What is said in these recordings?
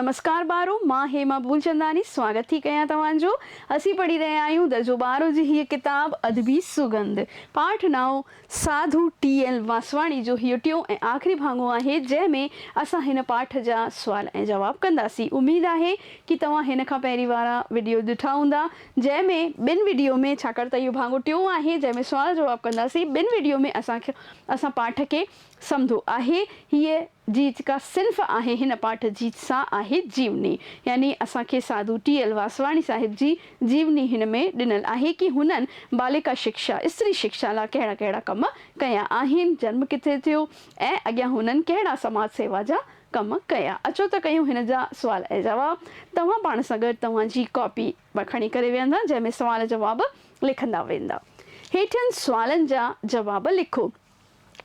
نمسڪار ٻارو، مان هيما ڀولچنداني سواگت ٿي ڪيان توهان جو. اسين پڙهي رهيا آهيون درجو ٻارهون جي هيء ڪتاب ادبي سگنڌ. پاٺ نائون ساڌو ٽي ايل واسواڻي جو هيء ٽيون ۽ آخري ڀاڱو آهي جنهن ۾ اسان هن پاٺ جا سوال ۽ جواب ڪنداسين. اميد آهي ڪي توهان هن کان پهرين وارا وڊيو ڏٺا هوندا جنهن ۾ ٻن وڊيو ۾ ڇاڪاڻ ته اهو ڀاڱو ٽيون آهي جنهن ۾ سوال جواب ڪنداسين ٻن وڊيو ۾ اسان اسان پاٺ کي سمڌو آهي هيء جي جيڪا صنف آهي هن پاٺ جي سا آهي جيوني يعني اسان کي ساڌو ٽي ايل واسواڻي صاحب جي جيوني هن ۾ ڏنل آهي ڪي هنن باليڪا شڪشا استري شڪشا لا ڪهڙا ڪهڙا ڪم ڪيا آهن جنم ڪٿي ٿيو ۽ اڳيان هنن ڪهڙا سماج سيوا جا ڪم ڪيا اچو ته ڪيون هن جا سوال ۽ جواب توهان پاڻ سان گڏ توهان جي ڪاپي مان کڻي ڪري ويهندا جنهن ۾ سوال جواب لکندا ويندا هيٺين سوالن جا جواب لکو.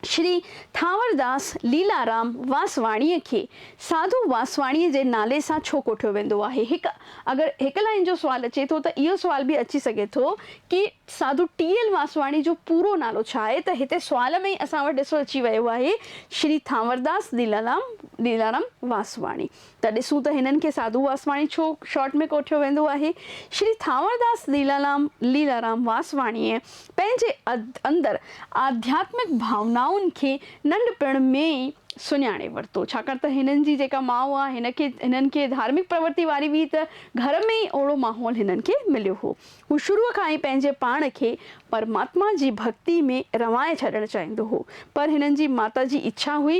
شري ٿانورداس ليلارام واسواڻيء کي ساڌو واسواڻيء جي نالي سان ڇو ڪوٺيو ويندو آهي؟ هڪ اگر هڪ لائين جو سوال اچي ٿو ته اهو سوال به اچي سگهي ٿو ڪي ساڌو ٽي ايل واسواڻي جو پورو نالو ڇا آهي ته هتي سوال ۾ ئي اسان وٽ ڏسو اچي ويو آهي شري ٿانورداس ليلارام واسواڻي. ته ڏسون ته هنن کي ساڌو واسواڻي ڇو شارٽ ۾ ڪوٺيو ويندو آهي. شري ٿانورداس ليلالام ليلارام واسواڻيء پنهنجي اندر آڌياتمڪ ڀاونائن کي ننڍپڻ ۾ ئي سڃاڻي ورتو، ڇاڪاڻ ته هنن جي جيڪا ماء هئا، هن کي هنن کي ڌارمڪ پرورتي واري هئي ته گهر ۾ ئي اهڙو ماحول هنن کي مليو هو. هو شروع کان ئي پنهنجي پاڻ کي پرماتما جي ڀڳتي ۾ روائي ڇڏڻ چاهيندو هو، پر هنن جي ماتا جي اڇا هئي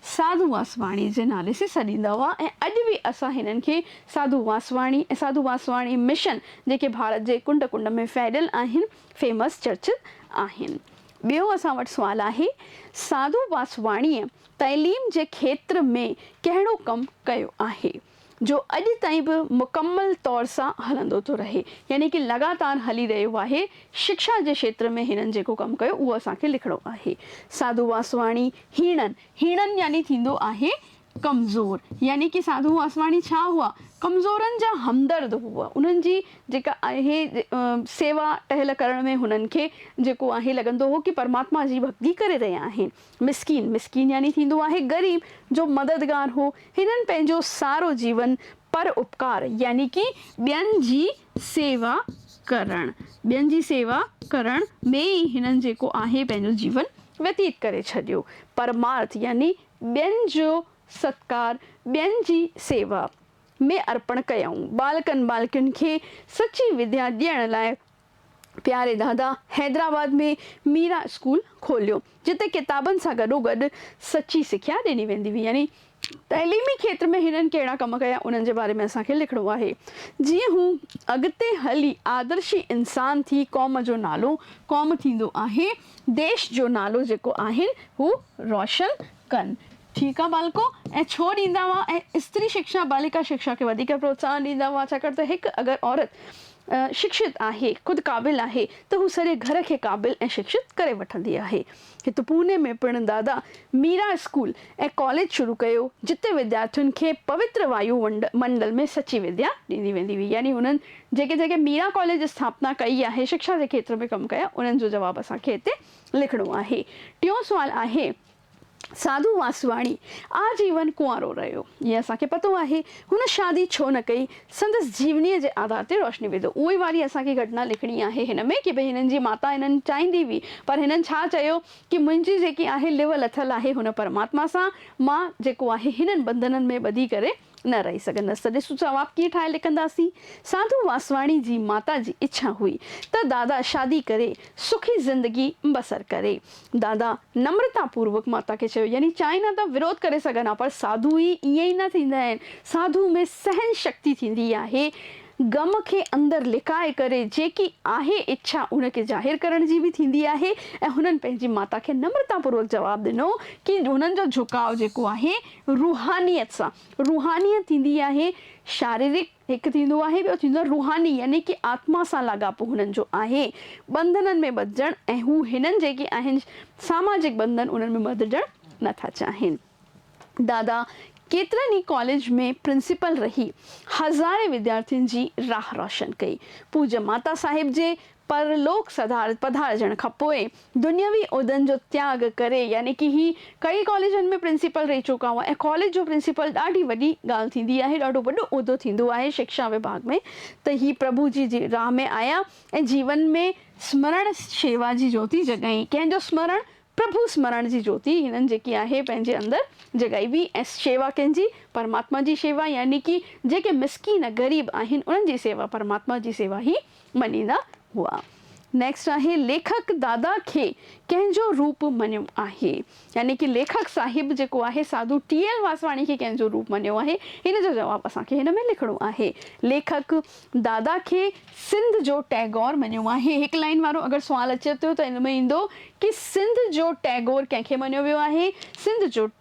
ساڌو واسواڻي جي نالي سين سڏيندا هئا ۽ اڄ به اسان هنن کي ساڌو واسواڻي ۽ ساڌو واسواڻي مشن جيڪي ڀارت جي ڪنڊ ڪنڊ ۾ ڦهليل آهن فيمس چرچز آهن. ٻيو اسان وٽ سوال آهي ساڌو واسواڻيء تعليم جي کيتر ۾ ڪهڙو ڪم ڪيو آهي؟ جو اڄ تائين به مڪمل طور سان هلندو ٿو رهي يعني ڪي لڳاتار هلي رهيو آهي شڪشا جي شيتر ۾ هنن جيڪو ڪم ڪيو اهو اسان کي لکڻو آهي ساڌو واسواڻي هيڻن هيڻن يعني ٿيندو آهي ڪمزور يعني ڪي ساڌو واسواڻي ڇا هئا ڪمزورن جا همدرد هئا انهن جي جيڪا آهي سيوا ٽهل ڪرڻ ۾ هنن کي جيڪو آهي لڳندو هو ڪي پرماتما جي ڀڳتي ڪري رهيا آهن مسڪين، مسڪين يعني ٿيندو آهي غريب، جو مددگار هو. هنن پنهنجو سارو جيون پر اپڪار يعني ڪي ٻين جي سيوا ڪرڻ، ٻين جي سيوا ڪرڻ ۾ ئي هنن جيڪو آهي پنهنجو جيون ويتيت ڪري ڇڏيو. پرمارٿ يعني ٻين جو ستڪار، ٻين جي سيوا ۾ ارپڻ ڪيائون. ٻالڪن ٻالڪين کي سچي وديا ڏيڻ لاء پياري دادا حيدرآباد ۾ ميرا اسڪول کوليو، جتي ڪتابن سان گڏوگڏ سچي سکيا ڏني ويندي هئي. يعني تعليمي کيتر ۾ هنن ڪهڙا ڪم ڪيا، انهن جي باري ۾ اسان کي لکڻو آهي، جيئن هو اڳتي هلي آدرشي انسان ٿي قوم جو نالو قوم ٿيندو آهي، ديش جو نالو جيڪو آهن هو روشن ڪن. ٺيڪ آ ٻالڪو، ائين ڇو ڏيندا هئا ۽ استري شڪشا ٻالڪا شڪشا کي وڌيڪ پروتساهن ڏيندا هئا ڇاڪاڻ ته هڪ اگر عورت شڪشت آهي، خود قابل آهي ته هو سڄي گهر کي قابل ۽ شڪشت ڪري وٺندي آهي. هت پوني ۾ پڻ دادا ميرا اسڪول ۽ ڪاليج شروع ڪيو جتي وديارٿين کي پوتر وايو منڊل ۾ سچي وديا ڏني ويندي هئي يعني هنن جيڪي جيڪي ميرا ڪاليج جي اسٿاپنا ڪئي آهي شڪشا جي کيتر ۾ ڪم ڪيا انهن جو جواب اسان کي هتي لکڻو آهي. ٽيون سوال آهي ساڌو واسواڻي آ جيون ڪنوارو رهيو، جيئن اسان کي پتو آهي. هن شادي ڇو نه ڪئي، سندس جيونيء جي آڌار تي روشني وڌو. اهي واري اسان کي گهٽنا لکڻي آهي هن ۾ ڪي به هنن جي ماتا انهن چاهيندي هئي، پر هنن ڇا چيو ڪي منهنجي جيڪي آهي لوء لٿل آهي هن پرماتما سان، مان جيڪو آهي هنن بنڌنن ۾ ٻڌي ڪري، نه رهي سگهندس ته ڏس جواب ڪيئن ٺاهي لکنداسين. ساڌو واسواڻي جي ماتا جي اڇا هئي ته دادا شادي ڪري سکي زندگي بسر ڪري. دادا نمرتا پوروڪ ماتا کي چيو يعني چاهين ها ته وروڌ ڪري سگهن ها پر ساڌو هي ائين ئي نه ٿيندا آهن. ساڌو ۾ سهن شڪتي ٿيندي آهي. غم کي اندر لڪائي ڪري جيڪي آهي اڇا ان کي ظاهر ڪرڻ جي به ٿيندي آهي ۽ هنن پنهنجي ماتا کي نمرتا پوروڪ جواب ڏنو ڪي هنن جو جهڪاء جيڪو آهي روحانيت سان روحانيت ٿيندي آهي شاريرڪ هڪ ٿيندو آهي ٻيو ٿيندو آهي روحاني يعني ڪي آتما سان لاڳاپو هنن جو آهي ٻنڌنن ۾ ٻڌجڻ ۽ هو هنن جيڪي آهن ساماجڪ ٻنڌن انهن ۾ ٻڌجڻ نه ٿا چاهين دادا ڪيترن ئي ڪاليج ۾ پرنسپل رهي هزارين وديارٿين جي راهه روشن ڪئي پوڄ ماتا صاحب جي پر لوڪ سڌارت پڌارجڻ کان پوء دنيوي عھدن جو تياڳ ڪري يعني ڪي ھي ڪئي ڪاليجن ۾ پرنسيپل رھي چڪا ھئا ۽ ڪاليج جو پرنسيپل ڏاڍي وڏي ڳالھ ٿيندي آھي ڏاڍو وڏو عھدو ٿيندو آھي شڪشا وڀاڳ ۾ ته ھي پرڀو جي جي راھ ۾ آيا ۽ جيون ۾ سمرڻ شيوا جي جوتي جڳائين ڪنھن جو سمرڻ پرڀو سمرڻ جي جوتي ھنن جيڪي آھي پنھنجي اندر جڳائي ھئي ۽ شيوا ڪنھن جي پرماتما جي شيوا يعني ڪي جيڪي مسڪين غريب آھن انھن جي سيوا پرماتما جي سيوا ھي مڃيندا هئا. نيڪسٽ آهي ليکڪ دادا کي ڪنهن جو روپ مڃيو آهي؟ يعني ڪي ليکڪ صاحب جيڪو آهي ساڌو ٽي ايل واسواڻي کي ڪنهن جو روپ مڃيو آهي؟ ان جو جواب اسان کي هن ۾ لکڻو آهي. ليکڪ دادا کي سنڌ جو ٽئگور مڃيو آهي. هڪ لائين وارو اگر سوال اچي ٿو ته ان ۾ ايندو ڪي سنڌ جو ٽئگور ڪنهن کي مڃيو ويو آهي؟ سنڌ جو.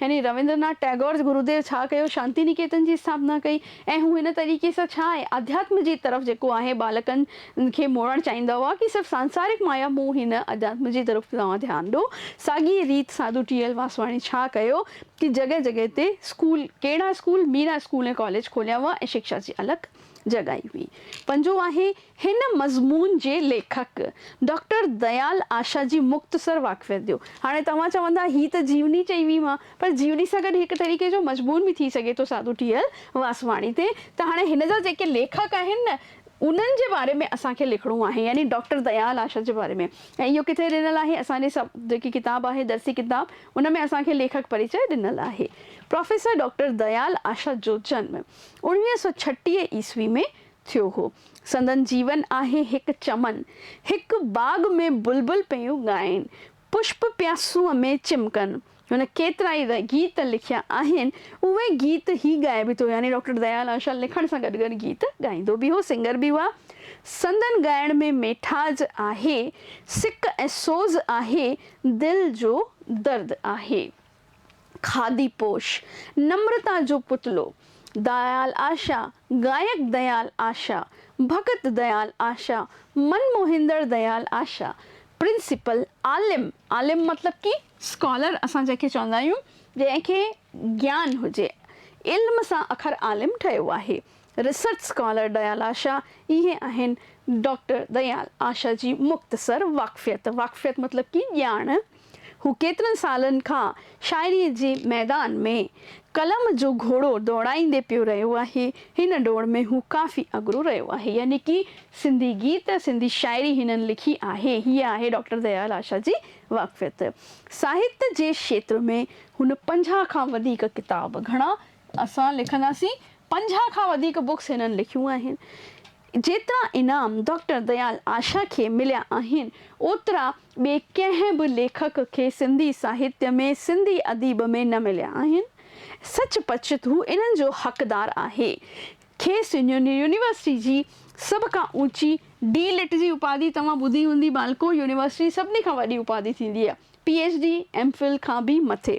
يعني رويندر ناٿ ٽئگور جي گروديو ڇا ڪيو، شانتي نڪيتن جي اسٿاپنا ڪئي ۽ هو هن طريقي سان ڇا آهي، آڌياتم جي طرف جيڪو آهي ٻالڪن کي موڙڻ چاهيندا هئا ڪي صرف سانسارڪ مايا مون هن آڌياتم جي طرف توهان ڌيان ڏو، ساڳي ريت ساڌو ٽي ايل واسواڻي ڇا ڪيو ڪي جڳهه جڳهه تي اسڪول ڪهڙا اسڪول ميرا اسڪول ۽ ڪاليج کوليا هئا ۽ شڪشا جي الڪ جڳائي هئي پنجون آهي. هن مضمون جي ليکڪ ڊاڪٽر ديال آشا جي مختصر واقفيت ڏيو. هاڻي توهان چوندا هي ته جيوني چئي وئي مان، پر جيوني سان گڏ هڪ طريقي جو مضمون به ٿي سگهي ٿو ساڌو ٺيهيل واسواڻي تي، ته هاڻي هن جا جيڪي ليکڪ آهن نه انهن جي باري ۾ اسان کي لکڻو آهي يعني ڊاڪٽر ديال آشا جي باري ۾ ۽ اهو ڪٿي ڏنل آهي اسان جي سب جيڪي ڪتاب آهي درسي ڪتاب ان ۾ اسان کي ليکڪ پريچئه ڏنل آهي پروفيسر ڊاڪٽر ديال آشا جو جنم اوڻويهه سؤ ڇٽيهه عيسوي ۾ ٿيو هو. سندن جيون آهي هڪ چمن. هڪ باغ ۾ بلبل پيون ڳائين. پشپ پيا سونهن ۾ چمڪن. هن ڪيترائي گيت لکيا آهن. اهي گيت هي ڳائي به ٿو يعني ڊاڪٽر ديال آشا لکڻ سان گڏ گڏ گيت ڳائيندو به هو، سنگر به هئا. سندن ڳائڻ ۾ ميٺاج آهي، سڪ ۽ سوز آهي، دل جو درد آهي. کاڌي پوش، نمرتا جو پتلو، دايال آشا، گائڪ ديال آشا، ڀڳت ديال آشا، من موهيندڙ ديال آشا، پرنسپل عالم، عالم مطلب ڪي اسڪالر اسان جنهن کي چوندا آهيون جنهن کي گيان هجي، علم سان اکر عالم ٺهيو آهي، ريسرچ اسڪالر ديال آشا، اهي آهن ڊاڪٽر ديال آشا جي مختصر واقفيت، واقفيت مطلب ڪي ڄاڻ، هو ڪيترن سالن کان شاعريء جي ميدان ۾ قلم جو گهوڙو ڊوڙائيندي پيو رهيو آهي، هن ڊوڙ ۾ هو ڪافي اڳرو رهيو آهي، يعني ڪي سنڌي گيت، سنڌي شاعري هنن لکي آهي، هيء آهي ڊاڪٽر ديال آشا جي واقفيت. ساهت جي کيتر ۾ هن پنجاهه کان وڌيڪ ڪتاب، گهڻا اسان لکنداسين پنجاهه کان وڌيڪ بڪس هنن لکيون آهن جيترا انعام ڊاڪٽر ديال آشا کي مليا آهن اوترا ٻئي ڪنهن به ليکڪ کي سنڌي ساهتيه ۾ سنڌي اديب ۾ نه مليا آهن سچ پچ هو انهن جو حقدار آهي کيس يونيورسٽي جي سڀ کان اوچي ڊي لٽ جي اپاڌي توهان ٻڌي هوندي بالڪو يونيورسٽي جي سڀني کان وڏي اپاڌي ٿيندي آهي P H D, M phil کان به مٿي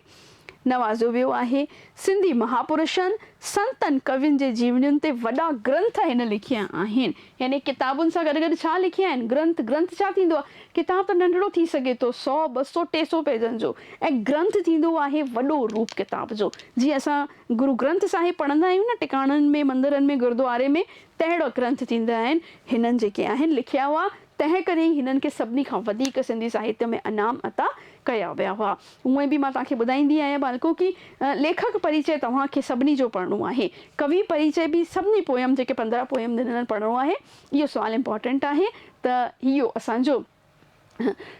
نوازيو ويو آهي. سنڌي مهاپرشن، سنتن، ڪوين جي جيونين تي وڏا گرنٿ هن لکيا آهن. يعني ڪتابن سان گڏ گڏ ڇا لکيا آهن؟ گرنٿ، گرنٿ ڇا ٿيندو آهي؟ ڪتاب ته ننڍڙو ٿي سگهي ٿو، سؤ، ٻه سؤ، ٽي سؤ پيجن جو ۽ گرنٿ ٿيندو آهي وڏو روپ ڪتاب جو. جيئن اسان گرو گرنٿ صاحب پڙهندا آهيون نه ٽڪاڻن ۾، مندرن ۾، گردواري ۾، تهڙا گرنٿ ٿيندا آهن. هنن جيڪي آهن لکيا اها تنهن ڪري ئي هنن کي سڀني کان وڌيڪ سنڌي ساهتيه ۾ انعام عطا ڪيا ويا هئا. هونئن به مان توهان کي ٻڌائيندي آهيان ٻالڪو ڪي ليکڪ پريچئه توهان کي سڀني جو پڙهڻو آهي. ڪوي پريچئه به سڀني پوئم جيڪي پندرهن پوئم ڏنل پڙهڻو آهي. اهو سوال امپارٽنٽ آهي ته اهو اسان جو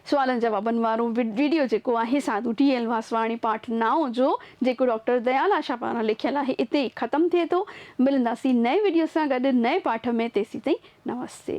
سوالن جوابن وارو وڊيو جيڪو آهي سا ڏوٽي ايل واسواڻي پارٽ نائون جو جيڪو ڊاڪٽر ديال آشا پاران لکيل آهي اتي ئي ختم ٿئي ٿو. ملنداسين نئين وڊيو سان گڏ نئين پاٺ ۾ تيسين تائين نمستي.